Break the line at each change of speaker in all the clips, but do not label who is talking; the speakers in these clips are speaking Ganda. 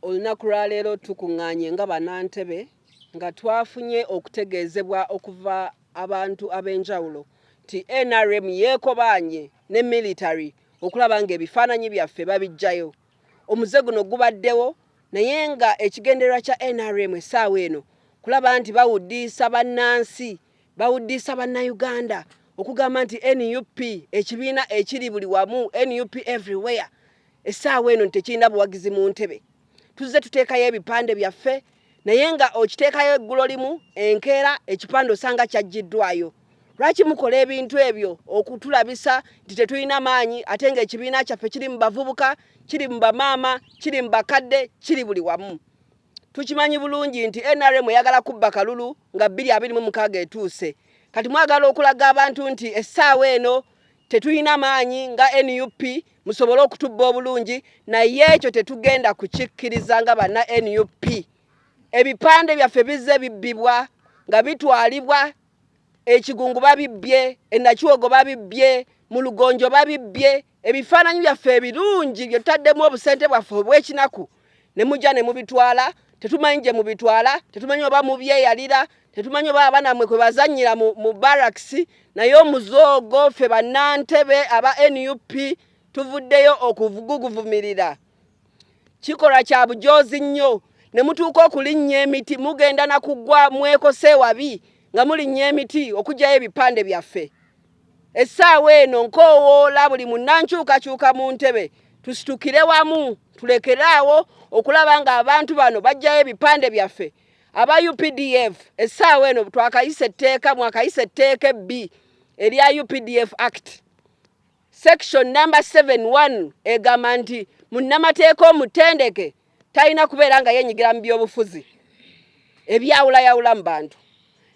Olunaku lwa leero tukuŋŋaanye nga Bannantebe nga twafunye okutegeezebwa okuva abantu ab'enjawulo nti nrm yeekobaanye ne military okulaba ng'ebifaananyi byaffe babiggyayo. Omuze guno gubaddewo naye ng'ekigendererwa kya nrm essaawa eno kulaba nti bawuddiisa bannansi bawuddiisa Bannayuganda okugamba nti nup ekibiina ekiri buli wamu, nup everywhere. Essaawa eno tekirina buwagizi mu ntebe. Tuzze tuteekayo ebipande byaffe naye nga okiteekayo eggulo limu enkeera ekipande osanga kyaggiddwayo. Lwaki mukola ebintu ebyo okutulabisa nti tetulina maanyi ate ng'ekibiina kyaffe kiri mu bavubuka, kiri mu bamaama, kiri mu bakadde, kiri buli wamu. Tukimanyi bulungi nti NRM eyagala kubba kalulu nga bbiri abiri mu mukaaga etuuse. Kati mwagala okulaga abantu nti essaawa eno tetulina maanyi nga nup musobole okutubba obulungi, naye ekyo tetugenda kukikkiriza nga banna nup. Ebipande byaffe bizze bibbibwa nga bitwalibwa ekigungu babibbye, enakiwogo babibbye, mu lugonjo babibbye. ebifaananyi byaffe ebirungi bye tutaddemu obusente bwaffe obw'ekinaku ne mujja ne mubitwala tetumanyi gye mubitwala tetumanyi oba mubyeyalira tetumanyi oba abaana mwe kwe bazannyira mu barracks naye omuzoogo ffe bannantebe aba nup tuvuddeyo okuguguvumirira kikolwa kya bujoozi nnyo ne mutuuka okulinnya emiti mugenda na kugwa mwekose wabi nga mulinnya emiti okugyayo ebipande byaffe essaawa eno nkoowoola buli munnankyukakyuka mu ntebe tusitukire wamu tulekere awo okulaba ng'abantu bano bajjayo ebipande byaffe aba updf essaawa eno twakayisa etteeka mwakayisa etteeka ebbi erya updf act section number 71 egamba nti munnamateeka omutendeke talina kubeera nga yenyigira mu byobufuzi ebyawulayawulamu bantu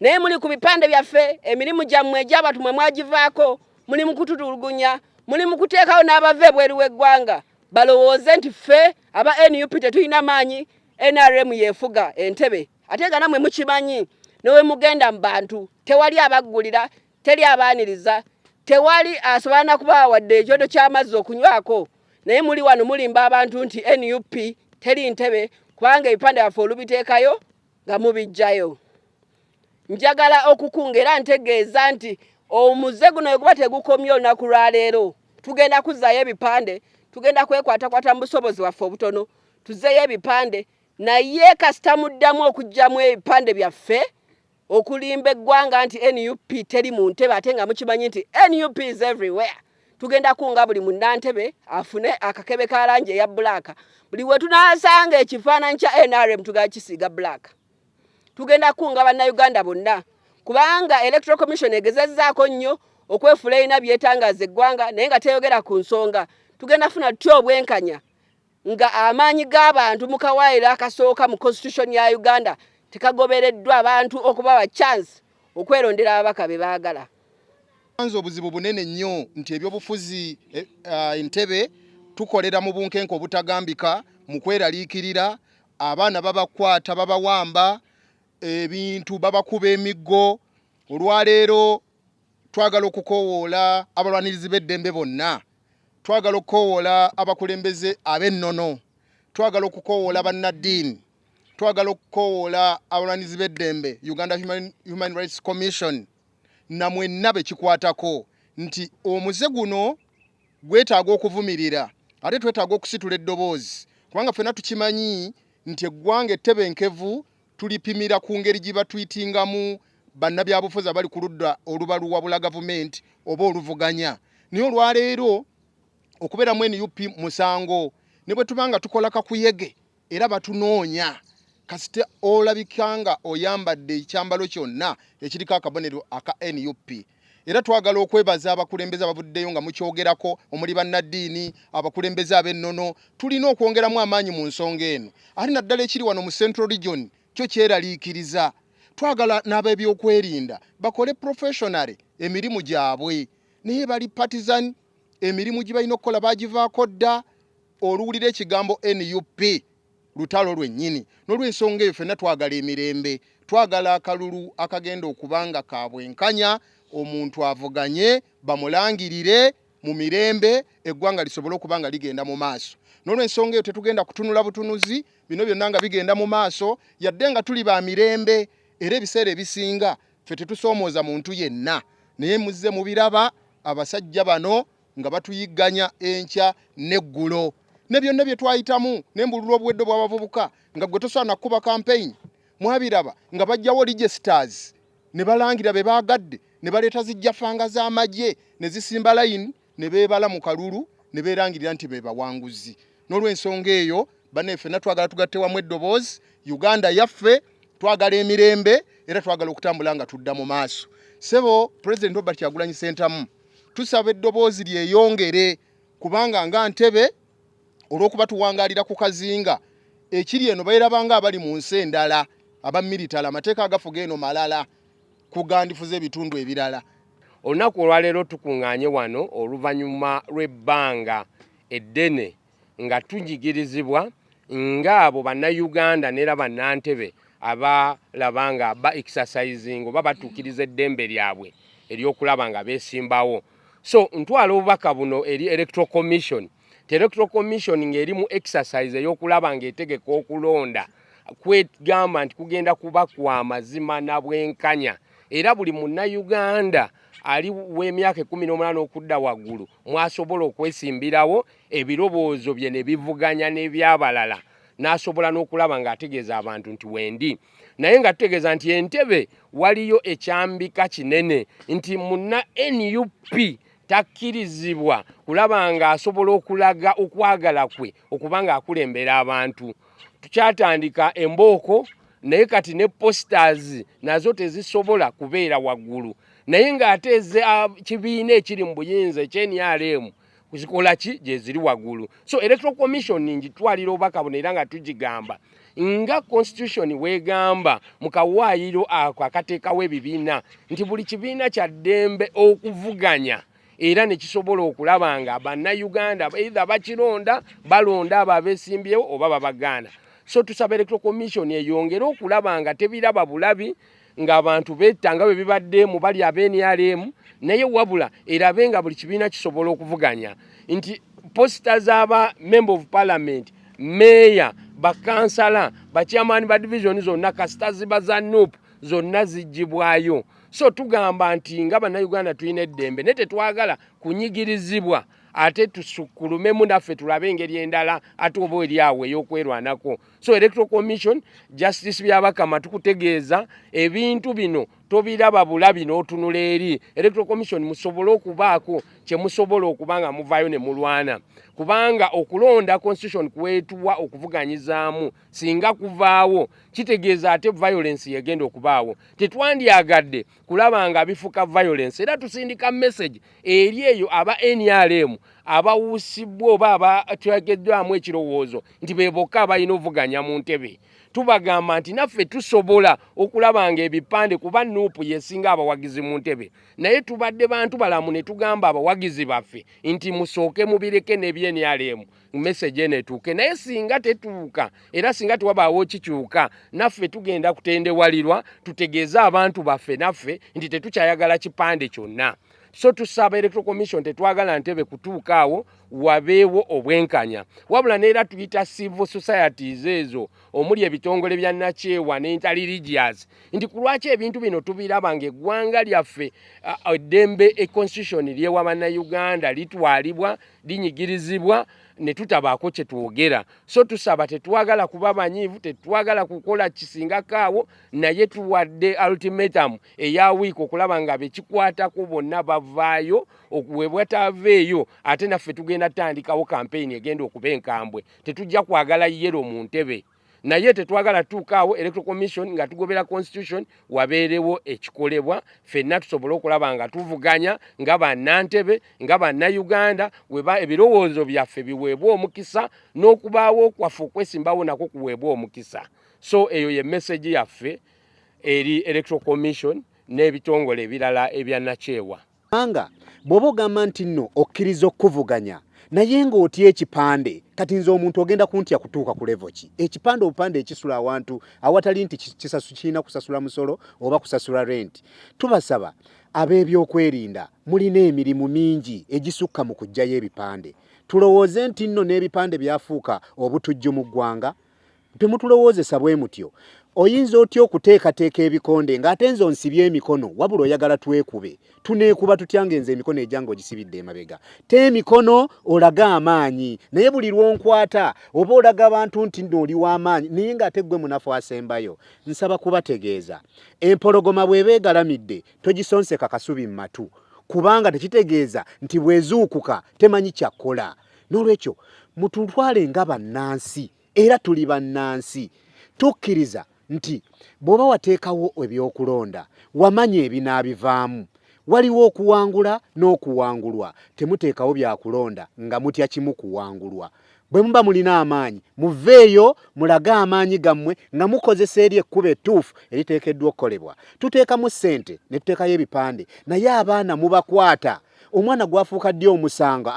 naye muli ku bipande byaffe emirimu gyammwe egy'abantu mwe mwagivaako muli mu kututulugunya muli mu kuteekawo n'abava ebweru w'eggwanga balowooze nti ffe aba nup tetulina maanyi nrm yeefuga entebe ate nga namwe mukimanyi newemugenda mu bantu tewali abaggulira Teri abaaniriza, tewali asobola na kubawa wadde ekyoto ky'amazzi okunywako naye muli wano mulimba abantu nti nup teri ntebe kubanga ebipande byaffe olubiteekayo nga mubiggyayo. Njagala okukunga era ntegeeza nti omuze guno bwe guba tegukomye olunaku lwa leero tugenda kuzzaayo ebipande tugenda kwekwatakwata mu busobozi bwaffe obutono tuzeeyo ebipande naye kasita muddamu okuggyamu ebipande byaffe okulimba eggwanga nti nup teri mu ntebe ate nga mukimanyi nti nup is everywhere tugenda kunga buli munnantebe afune akakebe ka langi eya bulaaka buli we tunaasanga ekifaananyi kya nrm tugenda kisiiga bulaaka tugenda kunga bannayuganda bonna kubanga electoral commission egezezzaako nnyo okwefula erina byetangaaza eggwanga naye nga teyogera ku nsonga tugenda funa tutya obwenkanya nga amaanyi g'abantu mu kawaayiro akasooka mu constitution ya Uganda tekagobereddwa, abantu okubawa chance okwerondera ababaka be baagala. Tusanze obuzibu
bunene nnyo nti ebyobufuzi e, uh, Entebbe tukolera mu bunkenke obutagambika mu kweraliikirira, abaana babakwata babawamba ebintu babakuba emiggo olwaleero twagala okukoowoola abalwanirizi b'eddembe bonna twagala okukoowoola abakulembeze ab'ennono twagala okukoowoola bannaddiini twagala okukoowoola abalwanirizi b'eddembe uganda human, human rights commission na mwenna be kikwatako nti omuze guno gwetaaga okuvumirira ate twetaaga okusitula eddoboozi kubanga ffena tukimanyi nti eggwanga ettebenkevu Tulipimira ku ngeri gye batwitingamu bannabyabufuzi abali ku ludda oluba luwabula gavumenti oba oluvuganya. Naye olwaleero okubeera mu nup musango ne bwe tuba nga tukola kakuyege era batunoonya. Kasita olabika nga oyambadde ekyambalo kyonna ekiriko akabonero aka nup era twagala okwebaza abakulembeze abavuddeyo nga mukyogerako omuli bannaddiini abakulembeze ab'ennono tulina okwongeramu amaanyi mu nsonga eno ate naddala ekiri wano mu central region kyo kyeraliikiriza twagala n'ab'ebyokwerinda bakole professionary emirimu gyabwe naye bali partisan emirimu gye balina okukola bagivaako dda oluwulira ekigambo nup lutalo lwennyini. N'olwensonga eyo fenna twagala emirembe, twagala akalulu akagenda okuba nga ka bwenkanya, omuntu avuganye bamulangirire mu mirembe eggwanga lisobole okuba nga ligenda mu maaso. N'olwensonga eyo tetugenda kutunula butunuzi bino byonna nga bigenda mu maaso yadde nga tuli ba mirembe era ebiseera ebisinga ffe tetusoomooza muntu yenna naye muzze mubiraba abasajja bano nga batuyigganya enkya n'eggulo ne byonna bye twayitamu n'embululu obuwedde bw'abavubuka nga gwe tosaana kukuba kampeyini mwabiraba nga bajjawo registers ne balangira be baagadde ne baleeta zijjafanga z'amagye ne zisimba layini ne beebala mu kalulu ne beerangirira nti be bawanguzi n'olwensonga eyo bane ffenna twagala tugatte wamu eddoboozi uganda yaffe twagala emirembe era twagala okutambula nga tudda mu maaso sebo president robert kyagulanyi sentamu tusaba eddoboozi lyeyongere kubanga nga ntebe olwokuba tuwangalira ku kazinga ekiri eno bairabanga abali mu nsi endala abamiritala amateeka agafuga eno malala kugandifuza ebitundu ebirala. Olunaku
olwaleero tukuŋŋaanye wano oluvannyuma lw'ebbanga eddene nga tunyigirizibwa ng'abo Bannayuganda n'era Bannantebe abalaba nga ba exercising oba batuukiriza eddembe lyabwe ery'okulaba nga beesimbawo. So ntwala obubaka buno eri Electoral Commission nti Electoral Commission ng'eri mu exercise ey'okulaba ng'etegeka okulonda, kwegamba nti kugenda kuba kwa mazima na bwenkanya era buli munnayuganda ali w'emyaka ekumi n'omunana okudda waggulu mwasobola okwesimbirawo ebiroboozo bye ne bivuganya n'ebyabalala n'asobola n'okulaba ng'ategeeza abantu nti wendi naye nga tutegeeza nti entebe waliyo ekyambika kinene nti munna nup takkirizibwa kulaba ng'asobola okulaga okwagala kwe okuba ng'akulembera abantu tukyatandika embooko naye kati ne posters nazo tezisobola kubeera waggulu naye ng'ate eze ah, kibiina ekiri mu buyinza ekyenrm zikola ki gyeziri waggulu so electoral commission ngitwalira obubaka buno era nga tugigamba nga constitution wegamba mu kawaayiro ako akateekawo ebibiina nti buli kibiina kya ddembe okuvuganya era ne kisobola okulaba nga bannayuganda either bakironda balonda abo abesimbyewo oba babagaana so tusaba electoral commission eyongere okulaba nga tebiraba bulabi ng'abantu betta nga bwe bibadde mu bali aba nrm naye wabula erabe nga buli kibiina kisobola okuvuganya nti posita z'aba member of parliament meeya bakansala bakyamaani ba divisioni zonna kasita ziba za nup zonna ziggibwayo so tugamba nti nga bannayuganda tulina eddembe naye tetwagala kunyigirizibwa ate tusukulumemu naffe tulabe engeri endala ate oba eri awo ey'okwerwanako so electoral commission justice byabakama tukutegeeza ebintu bino tobiraba bulabi n'otunula eri electoral commission musobole okubaako kye musobola okuba nga muvaayo ne mulwana kubanga okulonda constitution kwetuwa okuvuganyizaamu singa kuvaawo kitegeeza ate violence yegenda okubaawo tetwandyagadde kulaba nga bifuka violence era tusindika message eri eyo aba nrm abawusibwa oba abatyageddwamu ekirowoozo nti bebokka abalina ovuganya mu ntebe tubagamba nti naffe tusobola okulaba nga ebipande kuba nuupu yesinga abawagizi mu ntebe naye tubadde bantu balamu ne tugamba abawagizi baffe nti musooke mubireke ne bnrm message eno etuuke naye singa tetuuka era singa tewabaawo kikyuka naffe tugenda kutendewalirwa tutegeeze abantu baffe naffe nti tetukyayagala kipande kyonna so tusaba electoral commission tetwagala ntebe kutuuka awo wabeewo obwenkanya wabula neera tuyita civil societies ezo omuli ebitongole bya nakyewa ne interreligious nti ku lwaki ebintu bino tubiraba nga eggwanga lyaffe eddembe e constitution lyewa bannayuganda litwalibwa uh, linyigirizibwa ne tutabaako kye twogera so tusaba tetwagala kuba banyiivu tetwagala kukola kisingako awo naye tuwadde ultimatum eya wiiki okulaba nga bekikwatako bonna bavaayo webwataveeyo ate naffe tugenda tutandikawo kampeyini egenda okuba enkambwe tetujja kwagala yero mu ntebe naye tetwagala tuuka awo electoral commission nga tugobera constitution wabeerewo ekikolebwa fenna tusobole okulaba nga tuvuganya nga bannantebe nga bannayuganda weba ebirowoozo byaffe biweebwa omukisa n'okubaawo kwaffe okwesimbawo nako kuweebwa omukisa so eyo ye message yaffe eri electoral commission n'ebitongole ebirala ebya nakyewa Kubanga
bw'oba ogamba nti nno okkiriza okukuvuganya naye ng'otya ekipande, kati nze omuntu ogenda kuntya kutuuka ku levo ki? Ekipande obupande ekisula awantu awatali nti kisasu kirina kusasula musolo oba kusasula renti. Tubasaba ab'ebyokwerinda mulina emirimu mingi egisukka mu kuggyayo ebipande. Tulowooze nti nno n'ebipande byafuuka obutujju mu ggwanga? Temutulowoozesa bwe mutyo. Oyinza otya okuteekateeka ebikonde ng'ate nze onsibye emikono? Wabula oyagala twekube? Tuneekuba tutya ng'enze emikono egyange ogisibidde emabega? Te emikono olage amaanyi, naye buli lw'onkwata oba olaga bantu nti nno oli wa maanyi naye ng'ate ggwe munafu asembayo. Nsaba kubategeeza, empologoma bw'eba egalamidde togisonseka kasubi mu matu kubanga tekitegeeza nti bw'ezuukuka temanyi kya kukola. Noolwekyo mututwale nga bannansi. era tuli bannansi tukkiriza nti bw'oba wateekawo ebyokulonda wamanya ebinaabivaamu waliwo okuwangula n'okuwangulwa temuteekawo byakulonda nga mutya kimu kuwangulwa bwe muba mulina amaanyi muveeyo mulage amaanyi gammwe nga mukozesa eri ekkubo ettuufu eriteekeddwa okukolebwa tuteekamu ssente ne tuteekayo ebipande naye abaana mubakwata omwana gwafuuka ddi omusango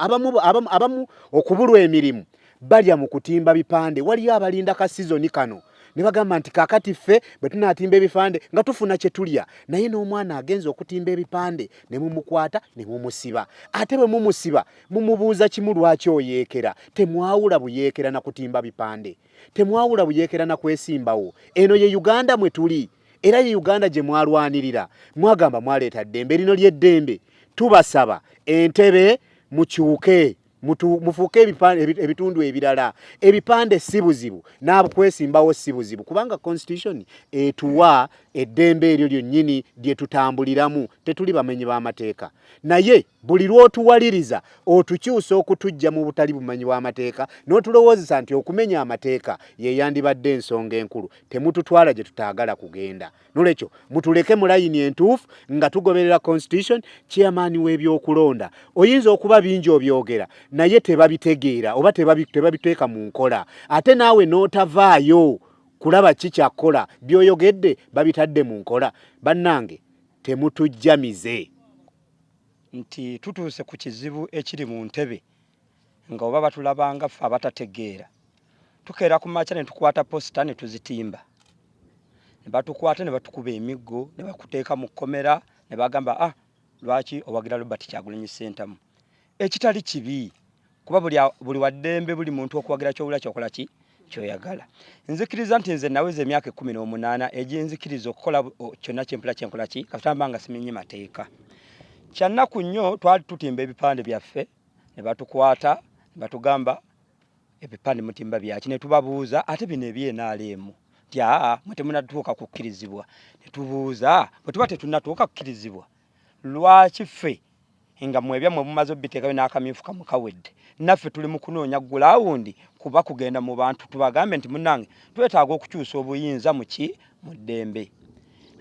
abamu okubulwa emirimu balya mu kutimba bipande waliyo abalinda ka sizoni kano ne bagamba nti kaakati ffe bwe tunaatimba ebipande nga tufuna kye tulya naye n'omwana agenza okutimba ebipande ne mumukwata ne mumusiba ate bwe mumusiba mumubuuza kimu lwaki oyeekera temwawula buyeekera na kutimba bipande temwawula buyeekera na kwesimbawo eno ye uganda mwe tuli era ye uganda gye mwalwanirira mwagamba mwaleeta ddembe lino ly'eddembe tubasaba entebe mukyuke mufuuke ebitundu ebirala ebipande si buzibu n'abukwesimbawo si buzibu kubanga constitution etuwa eddembe eryo lyonnyini lye tutambuliramu tetuli bamenyi b'amateeka naye buli lw'otuwaliriza otukyusa okutujja mu butali bumanyi bw'amateeka n'otulowoozesa nti okumenya amateeka ye yandibadde ensonga enkulu temututwala gye tutaagala kugenda nolwekyo mutuleke mu layini entuufu nga tugoberera constitution chairman w'ebyokulonda oyinza okuba bingi obyogera naye tebabitegeera oba tebabiteeka mu nkola ate naawe n'otavaayo kulaba ki kyakkola byoyogedde babitadde mu nkola bannange temutujjamize
nti tutuuse ku kizibu ekiri mu ntebe nga oba batulaba nga ffe abatategeera tukeera ku makya ne tukwata posita ne tuzitimba ne batukwata ne batukuba emiggo ne bakuteeka mu kkomera ne bagamba ah lwaki owagira robert kyagulanyi sentamu ekitali kibi kuba buli, buli waddembe buli muntu okuwagira kyowula kyokola ki kyoyagala nzikiriza nti nze naweza emyaka ekkumi n'omunaana egyenzikiriza okukola kyonna kyempula kyenkola ki kasitamba nga simenye mateeka kyannaku nnyo twali tutimba ebipande byaffe ne batukwata ne batugamba ebipande mutimba byaki ne tubabuuza ate bino ebyenaaleemu nti aa mwe temunatuuka kukkirizibwa ne tubuuza bwe tuba tetunatuuka kukkirizibwa lwaki ffe nga mwebya mwe mumaze obiteekayo n'akamyufu kamu kawedde naffe tuli mu kunoonya gulawundi kuba kugenda mu bantu tubagambe nti munange twetaaga okukyusa obuyinza muki mu ddembe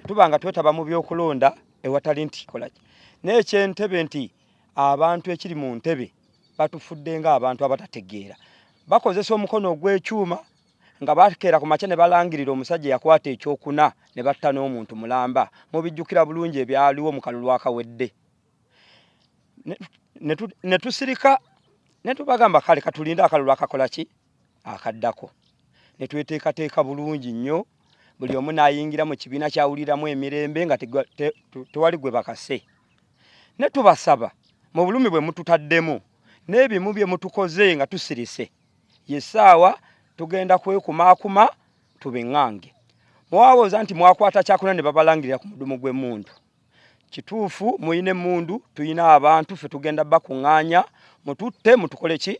tuba nga twetaba mu byokulonda ewatali nti kolaki n'ekyentebe nti abantu ekiri mu ntebe batufudde nga abantu abatategeera bakozesa omukono ogw'ekyuma nga bakeera ku makya ne balangirira omusajja yakwata ekyokuna ne batta n'omuntu mulamba mubijjukira bulungi ebyaliwo mu kalulu akawedde ne tusirika ne tubagamba kale katulinde akalulu akakola ki akaddako ne tweteekateeka bulungi nnyo buli omu n'ayingira mu kibiina kyawuliramu emirembe nga tewali gwe bakase ne tubasaba mu bulumi bwe mututaddemu n'ebimu bye mutukoze nga tusirise ye ssaawa tugenda kwekumaakuma tubing'ange mwawooza nti mwakwata kyakuna ne babalangirira ku mudumu gw'emmundu kituufu muyina emmundu tuyina abantu fe tugenda bakuŋŋaanya mututte mutukole ki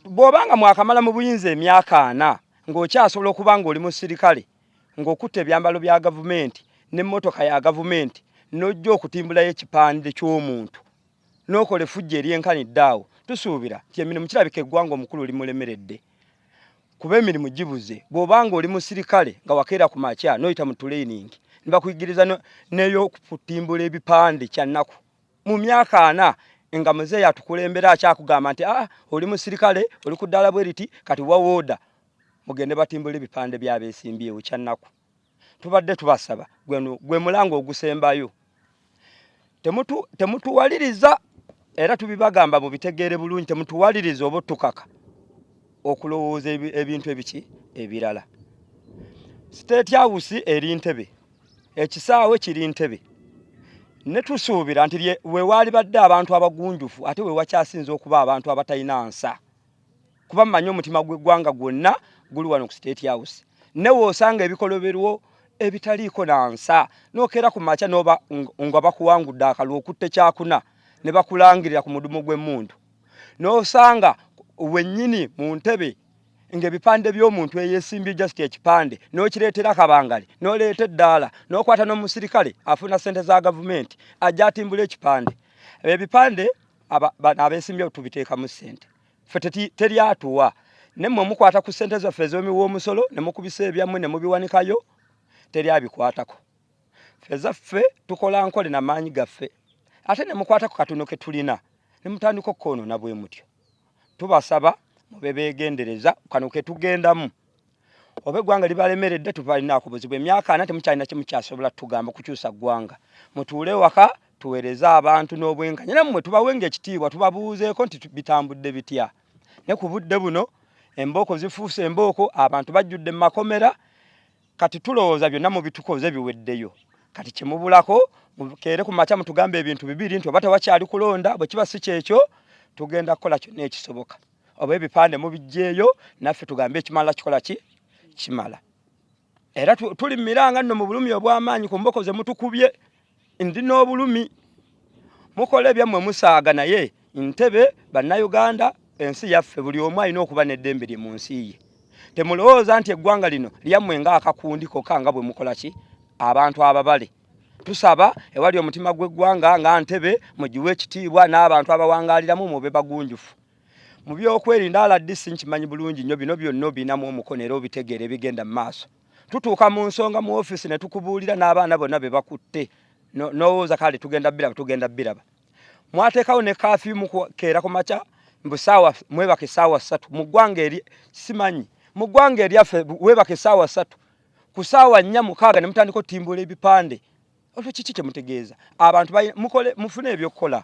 bw'oba nga mwakamala mu buyinza emyaka ana ng'okyasobola okuba ng'oli musirikale ng'okutta ebyambalo bya gavumenti n'emmotoka ya gavumenti n'ojja okutimbulayo ekipande ky'omuntu n'okola efujja eryenkanidde awo tusuubira nti emirimu kirabika eggwanga omukulu limulemeredde kuba emirimu gibuze bw'oba ng'oli musirikale nga wakeera ku makya n'oyita mu tuleyiningi ne bakuyigiriza n'ey'okutimbula ebipande kya nnaku mu myaka ana nga muzeeyi atukulembera akyakugamba nti aa ah, oli musirikale oli ku ddaala bwe riti kati wawooda mugende batimbule ebipande byabesimbyewo kyannaku tubadde tubasaba gweno gwe mulanga ogusembayo temutuwaliriza era tubibagamba mubitegeere bulungi temutuwaliriza oba otukaka okulowooza ebintu ebiki ebirala state house eri ntebe ekisaawe kiri ntebe netusuubira nti wewaalibadde abantu abagunjufu ate wewakyasinza okuba abantu abatalina nsa kuba mmanyi omutima gw'eggwanga gwonna guli wano ku state house newe osanga ebikoloberwo ebitaliiko na nsa nokeera ku makya noba nga bakuwangudde akalwa okutte kyakuna ne bakulangirira ku mudumu gw'emmundu n'osanga wennyini mu ntebe ng'ebipande by'omuntu eyesimbye just ekipande n'okireetera kabangali n'oleeta eddaala n'okwata n'omusirikale afuna ssente za gavumenti ajja atimbula ekipande ebipande abeesimbyewo tubiteekamu ssente fe teri atuwa ne mmwe mukwata ku ssente zaffe ez'omiwa omusolo ne mukubisa ebyammwe ne mubiwanikayo teri abikwatako fe zaffe tukola nkole na maanyi gaffe ate ne mukwata ku katono ke tulina ne mutandika okukoonoona bwe mutyo tubasaba mube beegendereza kano ke tugendamu oba eggwanga libalemeredde tubalinaku buzibu emyaka ana temukyalina kimu kyasobola tugamba kukyusa ggwanga mutuule waka tuweereze abantu n'obwenkanya nammwe tubawenga ekitiibwa tubabuuzeeko nti bitambudde bitya ne ku budde buno embooko zifuuse embooko abantu bajjudde mu makomera kati tulowooza byonna mu bitukoze biweddeyo kati kyemubulako mukeere ku makya mutugambe ebintu bibiri nti oba tewakyali kulonda bwe kiba si kyekyo tugenda kukola kyonna ekisoboka oba ebipande mubijjeeyo naffe tugambe ekimala kikola ki kimala era tuli mumiranga nno mu bulumi obw'amaanyi ku mboko ze mutukubye ndi n'obulumi mukola ebyammwe musaaga naye ntebe bannayuganda ensi yaffe buli omu alina okuba n'eddembe lye mu nsi ye temulowooza nti eggwanga lino lyammwe nga akakundi koka nga bwe mukola ki abantu ababale tusaba ewali omutima gw'eggwanga nga ntebe mugiwe ekitiibwa n'abantu abawangaaliramu mube bagunjufu mu byokwerinda rdc nkimanyi bulungi nnyo bino byonna obinamu omukono era obitegeera ebigenda mu maaso tutuuka mu nsonga mu ofiisi ne tukubuulira n'abaana bonna be bakutte n'owooza kale tugenda biraba tugenda biraba mwateekawo ne kaafi mukeera ku makya mbu saawa mwebaka esaawa ssatu mu ggwanga eri simanyi mu ggwanga eryaffe weebaka esaawa ssatu ku saawa nnya mukaaga ne mutandika otimbula ebipande olwo kiki kye mutegeeza abantu mufune ebyokukola